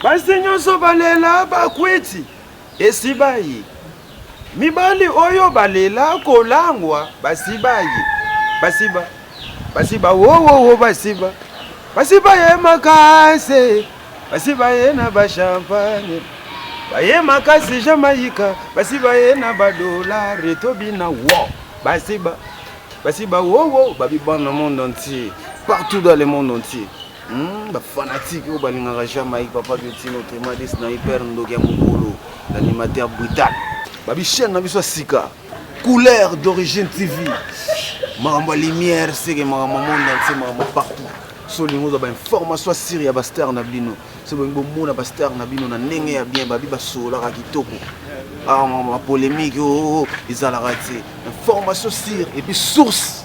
Basi nyonso balela bakwiti esi baye. Mibali oyo balela kolangwa basi baye. Basi ba basi ba wo wo wo basi ba basi baye makasi basi baye na ba champagne baye makasi jamaïka basi baye na ba dolare tobina wo basi ba basi ba wo wo babibana monde entier partout dans le monde entier Hum, ba fanatique oyo balingaka Jamaïque, Papa Biotino, Tremades na Hyper Ndoki ya Mokolo, l'animateur brutal. Babi chaîne na biso ya sika, couleur d'origine TV. Makambo ya lumière, seke makambo ya monde entier, makambo ya partout. So olingi ozwa ba information ya siri ya ba star na bino, so bolingi bomona ba star na bino na ndenge ya bien, babi basololaka kitoko. Ah, makambo ya polemique oyo ezalaka te. Information sire et puis source.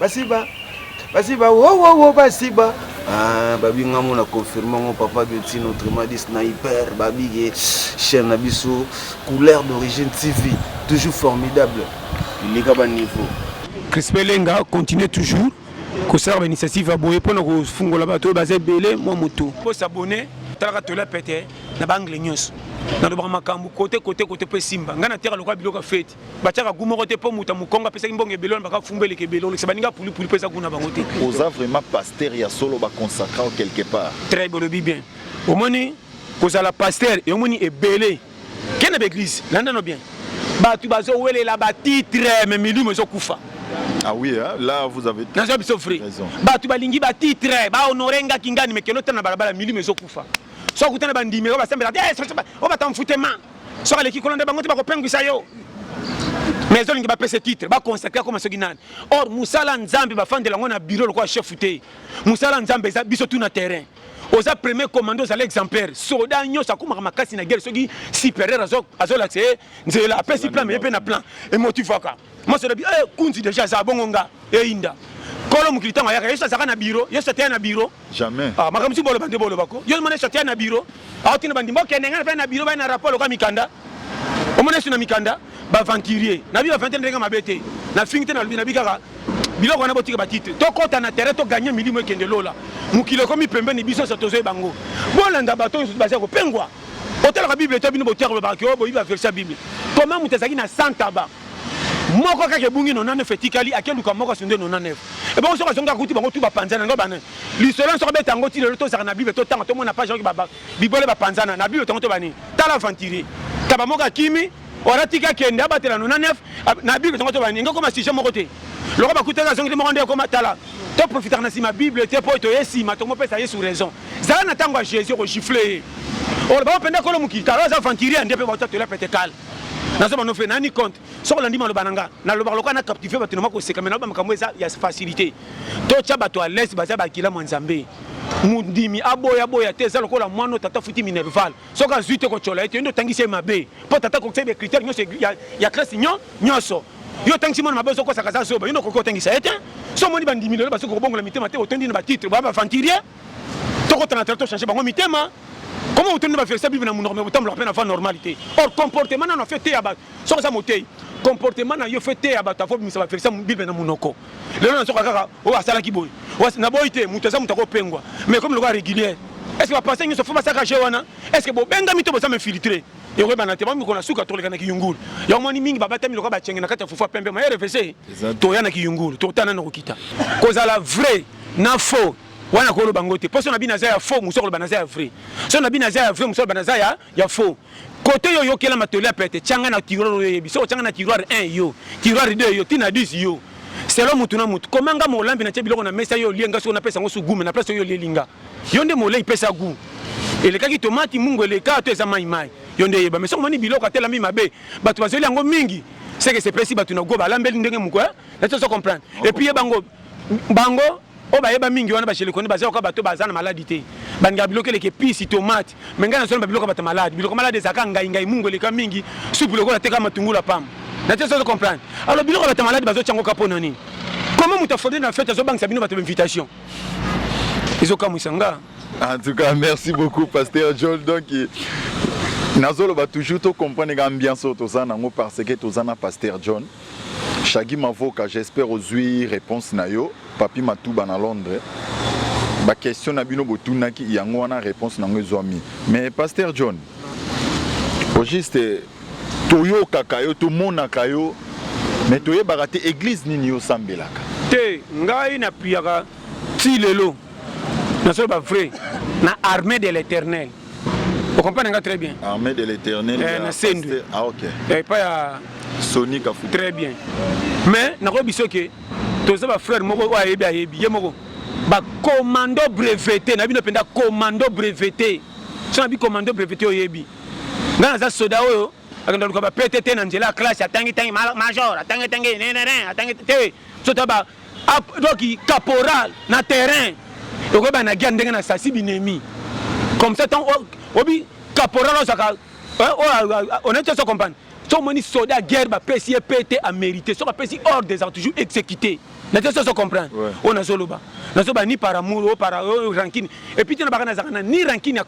basiba basiba wowowo basiba ah, babi nga mona confirme ngo papa guetino autrement dit sniper babi ye chaîne na biso couleur d'origine tv toujours formidable ileka ba niveau crispin lenga continue toujours kosala ba initiative ya boye mpona kofungola bato oyo baza ebele mwa motu po s'abonne talaka tola pete na baangle nyonso nalobaka makambo kote kote kote mpo esimba ngai nateka lokola biloko ya feti batiaka gu moko te mpo moto ya mokongo apesaki mbongo ebele wana baka fumba eleka ebele olekisa baninga pulipuli mpo eza gu na bango te oza vraiment pasteur ya solo baconsacra quelque part très bolobi bien omoni kozala pasteur omoni ebele ke na baeglise landano bien bato bazowelela batitre me milimo ezokufa Ah oui, hein? là vous avez naza biso vrai bato balingi batitre bahonore nga kingani mekelo tana balabala milimo ezokufa so akutana bandimi oyo basambelaka te eh, oyo batamfutema soki aleki kuna nde bango te bakopengwisa yo mais ezolingi bapesa titre baconsacre akoma soki nani or mosala nzambe bafandela yango na biro lokola chef te mosala nzambe eza biso tu na terrain oza premier commando ozali exemplaire soda nyonso akomaka makasi na guerre soki supérieur azolakisa ye nzela apesi plan meye mpe na plan emotivaka masoda bi eh, kunzi deja aza bongo nga eyinda kolo mokili ntango ayaka yesu azalaka na biro yesu ateya na biro Jamais. Ah, makambo si boloba nde boloba ko. Yo mona chatia na bureau. Ah, tina bandi mboka ndenge na na bureau ba na rapport loka mikanda. Omona suna mikanda ba aventurier. Na bi aventurier ndenge mabete. Na fingi te na lobi na bi kaka biloko wana botika batitre tokɔta na terrain toganye milimo ekende lola mokili ekomi pembeni biso nyonso tozwi bango bolanda bato nyonso baza kopengwa otalaka bible to bino botiaka bolobaka ke oyo boyiba verse ya bible koma moto ezalaki na santaba moko kaka ebungi 99 etikali ake luka moko asunde 99 ebongo soki azongi akuti bango tu bapanzana yango bana lisolo yango soki abeta yango ti lelo tozala na bible totanga tomona page oki bibole bapanzana na bible tongo to bani tala aventurier kaba moko akimi wana tika kende abatela 99 na bible tongo to bani engo koma sujet moko te loko bakutaki azongi te moko nde ekoma tala toprofitaka na nsima bible te mpo toye nsima tomopesa yesu raison zala na ntango ya jésus okogifle ye oloba mpenza kolo mokili kala aza aventurier nde mpe bautatola pete kala naza bano fe nani compte soki olandi maloba na nga nalobaka lokola na captive bato na mwa koseka mai naloba makambo eza ya facilité totya bato ya lese baza bakila mwa nzambe mondimi aboya boya te eza lokola mwana oyo tata futi minerval soki azwi te kotyola ye te yo nde otangisi ye mabe mpo tata akokisa ye bacritere nyonso ya kriste nyonso yo otangisi mwana mabe ozokosaka aza zoba yo nde okoki otangisa ye te so omoni bandimi lelo bazoki kobongola mitema te otondi na batitre baa bavantirie tokota na tala tochange bango mitema koma otondi baverse bible na monoko me botambolaka mpe na va normal te or comportement nano afe teya bato soki oza motei comportement na yo fe teya bato afo bimisa baverse bible na monoko lelo nazoka kaka oyo asalaki boye na boyi te moto aza moto akopengwa mais komi lokola régulière est ce que bapense nyonso fo basaka je wana est ce que bobengami to boza infiltre ekoyebana te bamikona suka toleka na kiyungulu yango moni mingi babatami lokola bacenge na kati ya fufa pembe maye refese toya na kiyungulu totana na kokita kozala vrai na faux wana koloba ngo te mposo na bino aza ya faux mosu akoloba naza ya vrai so na bino aza ya vrai mosu aloba naza ya, ya faux kote yo oyokela matoli ya pete tyanga na tiroir oyo oyebi soko tyanga na tiroir 1 yo tiroir 2 yo tina 10 yo selo motu na motu komanga molambi na tye biloko na mesa yo olie nga soko napesa yango sugume na place oyo olieli nga Yo nde molei pesa gout. Elekaki tomati mungu eleka to eza mai mai. Yo nde yeba mais soko moni biloko atelami mabe. Bato bazeli yango mingi. Seke sepesi bato na gout balambeli ndenge moko eh. Na tozo comprendre. Et puis yeba ngo bango oyo bayeba mingi wana bajelekoni baza yoka bato baza na maladi te balingaka biloko eleke pisi tomate me ngai nazona babiloko bato maladi biloko maladi ezalaka ngai ngai mungu eleka mingi supu lokola teka matungulu apamba na te sozo comprendre alors biloko bato maladi bazotya yango ka mpo na nini koma moto afondeli na fete azobangisa bino bato bainvitation ezokamwisa nga en tout cas merci beaucoup pasteur jol donc nazoloba toujours tocomprendre ka ambiance oyo toza nango parce que toza na pasteur john shagi mavoka j'espère ozwi réponse na yo papi matuba na londres baquestion na bino botunaki yango wana réponse nango ezwami mais pasteur john au juste Toyokaka yo, tomonaka yo mais toyebaka te eglise nini yo osambelaka. Te ngai na priaka ti lelo na solo ba vrai na armee de l'eternel o comprendre nga très bien armée de l'eternel eh, na sendu ah ok eh, pas ya Sony Kafuta très bien mais nakoyebi biso ke toza ba frère moko oyo ayebi ayebi ye moko ba commando breveté na bino mpenza commando breveté so na bi commando breveté oyebi Nga naza soda oyo akenda luka ba PTT na nzela ya classe atangi tangi major atangi tangi ne ne ne atangi te sota ba donc caporal na terrain oko ba na guerre ndenge na sasi binemi comme ça tant obi caporal osaka on est tous comprendre so moni soda guerre ba pesi ye PTT a mérité so ba pesi ordre des toujours exécuté na te soso comprendre oyo nazoloba nazoba ni par amour o par rankine epuis te na baka nazalaka na ni rankine ya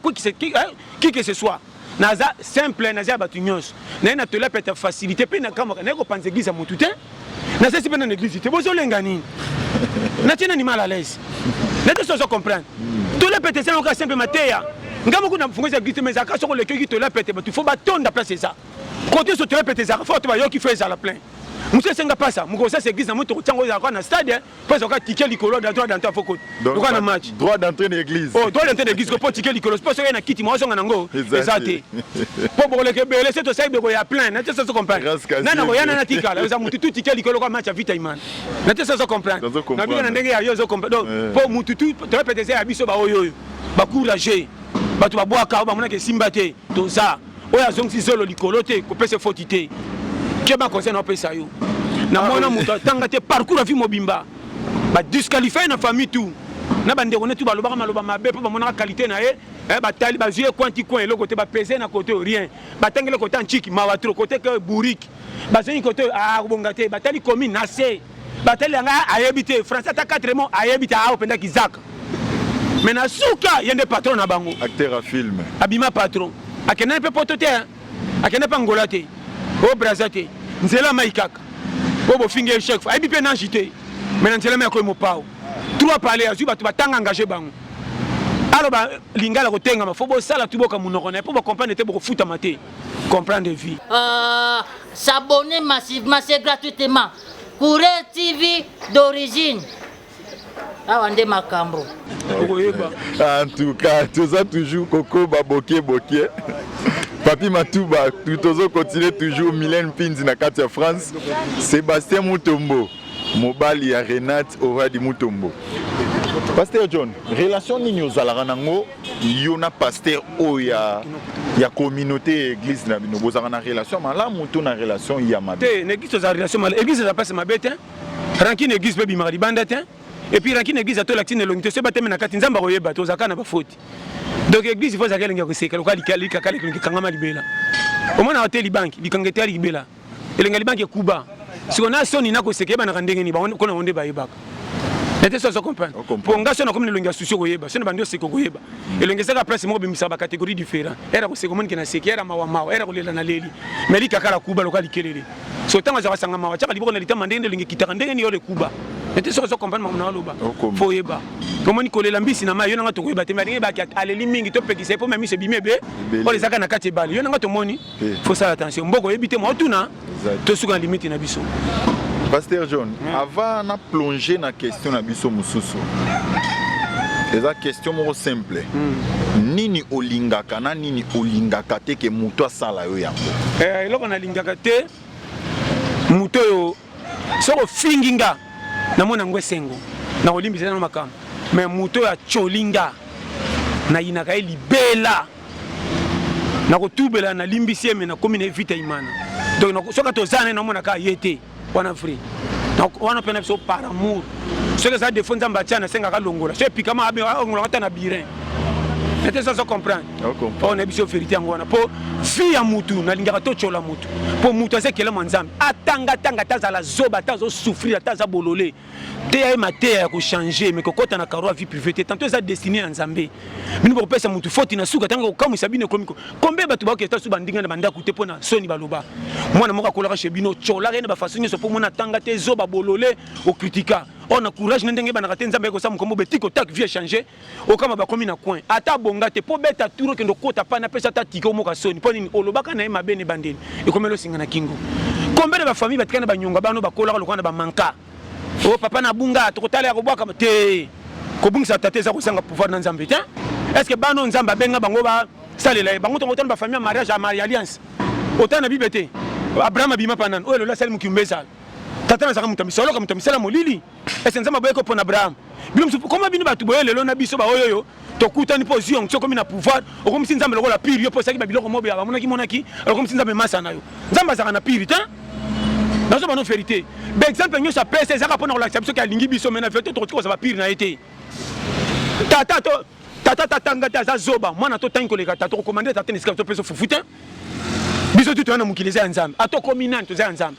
qui que ce soit naza simple naza ya bato nyonso naye na tola peta facilité mpe nakamwaka naye kopanza eglise ya motu te nasesi mpe na na eglise te bozolenga nini natie nani mal à l'aise nete sozo comprendre tola peta eza yoka simple mateya nga moko na mfungozi ya eglise te mais ezalaka soko olekiyoki tola pete bato fo batonda place eza kote nyonso tola pete ezalaka fo bato bayoki fo ezala plein mosusu esenga mpasa mokosa sa eglise na moi tokotiango ezalaka na stade Mpo ezalaka ticket likolo droit d'entrée ya fokot. Lokola na match. Droit d'entrée na église. Oh, droit d'entrée na église mpo ticket likolo. Mpo soki na kiti mwa ozonga nango eza te. Mpo bokoleka ebele se tosali beko ya plein. Na te ça se comprendre. Na na koya na na tikala eza mutu tout ticket likolo kwa match ya Vita Imana. Na te ça se comprendre. Na bino na ndenge ya yo zo comprendre. Donc eh. mpo mutu tout to répéter ya biso ba oyo oyo. Ba courageux. Bato babwaka oyo bamonaka esimba te. Toza. oyo azongisi zolo likolo te kopesa foti te keba conseil na opesa yo na ah, mwana moto atanga te parcours ya vie mobimba badisqualifie na famille tout na bandeko ne tu balobaka maloba mabe mpo bamonaka kalite na ye eh, batali bazwi ye coin ti coin eloko te bapese na kote oyo rien batangeli kota nciki mawa tro kote ke bourrique bazongi kote oyo akobonga ah, te batali commune na se Batali ya ngai ayebi te français ata 4 mots ayebi te awa penda kizaka. Mais na suka ye nde patron na bango. Acteur ya film. Abima patron. Akendaki mpe poto te, akendaki mpe Angola te, o Brazza te, nzela mai kaka. Oyo bofingi ye chaque fois. Ayebi mpe nage te. Mais na nzela mai akoyi mopao. Trois palais azwi bato batanga engage bango. aloba lingala kotengama fo bosala tuboka monoko na ye mpo bocomprendre te bokofutama te comprendre vie euh, s'abonner massivement c'est gratuitement courrier tv d'origine awa nde makambo okoyeba en tout cas toza toujours kokoba bokie bokie papi matuba tozo continue toujours milene mpinzi na kati ya france sébastien mutombo mobali ya renate oradi mutombo pasteur john relation nini ozalaka nango yo na pasteur oyo ya ya communauté ya église na bino bozalaka na relation malamu to na relation ya mabe te na église tozala relation malamu église eza mpasi mabe te rankine église mpe ebimaka libanda te epuis rankine église atola ntina elongi te soki batemi na kati nzambe akoyeba te ozalaka na bafoti donc église fo ezalaka elengi ya koseka lokola likaka likaka likanga ma libela omonaka te libanki likanga eteyali libela elenga libanga ekuba siko na soni na koseka ebanaka ndenge nini bango kona onde bayebaka nete so azo comprendre mpo nga so nakomi na elongi ya susi okoyeba so na bandi oseka okoyeba mm. elongi ezaka place moko bimisaka bacatégorie différent era koseka omoni ke na seki era mawa mawa era kolela na leli mais likakala kuba lokola likelele so ntango azaka sanga mawa tiaka liboko na litama ndenge nde elongi ekitaka ndenge nini yole kuba nete soki ozo comprendre makambo na oloba fo oyeba omoni kolela mbisi na mai yo nanga tokoyeba te mais ndenge ebaki aleli mingi topekisa ye mpo mamiso ebimi ebe oyo ezaka na kati ebale yo nanga tomoni eh. faut sala attention mboka oyebi te mwa tuna tosuka na limite na biso pasteur john mm. avant na plonge na question na biso mosusu eza question moko simple mm. nini olingaka na nini olingaka te ke moto asala yo yango eh, eloko nalingaka te moto oyo soki ofingi nga namona yango esengo nakolimbisa nano makambo me moto oyo acoli nga nayinaka ye libela nakotubela nalimbisi ye me nakomi na ye vita imana donc soki toza naye namonaka ye te wana vrai wana mpe na biso par amour soki eza defo nzambe atya nasengaka longola so epikama alongolaka ata na birin nete soso comprendre oyo nayebi biso verité yango wana mpo vi ya mutu nalingaka totyola mutu mpo mutu aza ekelamo ya nzambe atangatanga ata azala zoba ata azosouffrir ata aza bolole teya ye mateya ya kochange me kokɔta na karo ya vie privé te tanto eza destine ya nzambe bino bakopesa mutu foti na suka ntango kokamwisa bino ekomi kombe bato bakoketa su bandinga na bandako te mpo na soni baloba mwana moko akolaka chez bino tyolaka ye na bafaso nyonso mpo mwana atanga te zoba bolole okritika or na courage na ndenge ebanaka te nzambe ayekosala mokombo betiko tak vie echange okama bakomi na coin ata abonga te mpo beta tour okende okota pani apesa ata tike omoka soni mpo nini olobaka na ye mabe na ebandeli ekomeli osinga na kingo kombe na bafamille batika na banyonga bano bakolaka lokola na bamanka o oh, papa na bunga tokotala ya kobwaka te kobungisa tata eza kozanga pouvoir na nzambe te est ce que bana oyo nzambe abenga bango basalela ye bango tongo otana bafamille ya mariage ya alliance otana na bible te abraham abima mpa nani oyo elola asali mokimba ezala tata nazalaka moto ya misoloka moto ya misala molili ese nzambe aboyaki opona abraham bino mosusu koma bino bato boye lelo na biso baoyo oyo tokutani mpo ozwi yango soki okomi na pouvoir okomisi nzambe lokola pire yo mpo osaki babiloko mobe ya bamonaki monaki okomisi nzambe masa na yo nzambe azalaka na pire te nazo bano verité baexemple nyonso apesa ezalaka mpo na kolakisa biso ke alingi biso mai na verité tokoki kozala bapire na ye te tata to tata tatanga te aza zoba mwana totangi koleka tata okomande tata na esika topesa fufu te biso tu toya na mokili eza ya nzambe ata okomi nani toza ya nzambe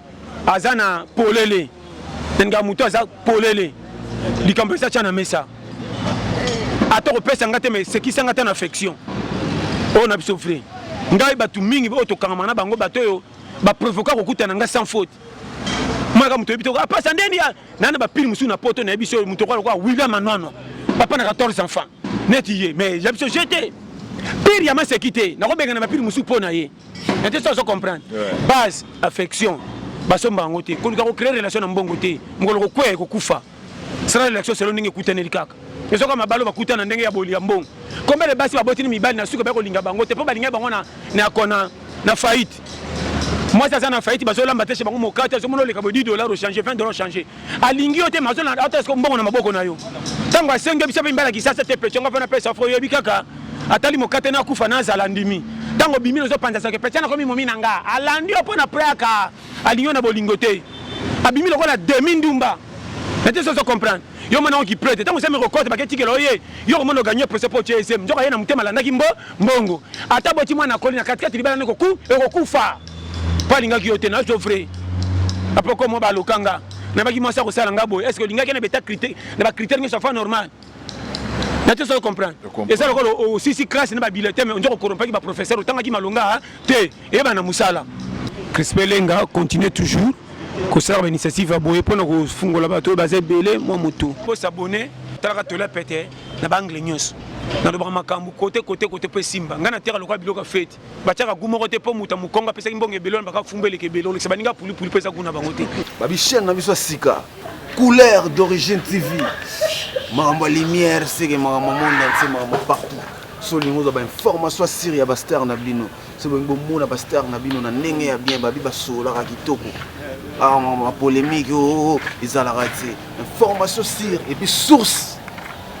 aza na polele nga moto aza polele likambo eza tya na mesa ata kopesa nga te ma esekisa nga ata na affection oyo na biso vrai ngai bato mingi oyo tokangama na bango bato oyo baprovoka kokutana nga sans faute mwaka moto oyebi te apasa ndeni nana bapile mosusu na poto nayebi so moto okola lokola william anwanwa papa na 14 enfants neti ye mais ya biso je te pire ya maseki te nakobengana bapile mosusu mpo na ye na te so azo comprendre base affection basomba yango te koluka kocree relation na mbongo te mokolo kokwea ekokufa sala relation selo ndenge ekutaneli kaka ezoka mabalo bakutana ndenge ya boli ya mbongo kombe le basi babotini mibali na suka bakolinga bango te mpo balingai bango na kona na faillite mwasi aza na faillite bazolamba te chez bango mokate azomona oleka bo 10 dollar ochange 20 dollar ochange alingi yo te mazo na ata siko mbongo na maboko na yo ntango asengi biso mpe mbala kisasa te petyonga mpe napesa fo oyebi kaka atali mokate na kufa nazala ndimi ntango obimi nozopanza soki petya nakomi momi na nga alandi yo mpo na preaka alingi yo na bolingo te abimi lokola demi ndumba nete sozo comprendre yo mwana yango kiprete ntango osemi kokota baketikela oye yo komona oganye prese mpo otie esem nzoka ye na motema alandaki mbo mbongo ata boti mwana akoli na katikati libala na ekokufa mpo alingaki yo te nazo vrai après comme moi balokanga nabaki mwasi akosala nga boye est ce que olingaki na beta critère na ba critère nyonso afa normal nati ozo comprendre eza lokola osisi classe na babilete me onzo kokorompaki baprofesseur otangaki malonga te eyeba na mosala crispe lenga continue toujours kosala bainitiative ya boye mpona kofungola bato oyo baza ebele mwa moto bosabone talaka tola pete na baangle nyonso nalobaka makambo kote kote kote mpo esimba ngai nateka lokola biloko ya feti batiaka gu moko te mpo moto ya mokongo apesaki mbongo ebele wana bakaka fumba eleka ebele olekisa baninga pulipuli mpo eza gu na bango te babi chaîne na biso ya sika couleur d'origine tv makambo ya lumière seke makambo ya monde entier makambo partout so olingi ozwa bainformation ya siri ya bastar na bino so bolingi bomona bastar na bino na ndenge ya bien babi basololaka kitoko ah, makambo ya polémique oo oh, oh, oh, ezalaka te information sire epuis source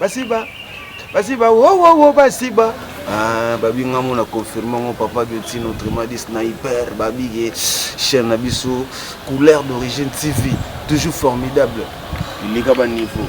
basiba basiba wowowo basiba ah, babi nga mona confirme ngo papa guetino autrement dit sniper babi ye chaîne na biso couleur d'origine tv toujours formidable ileka ba niveau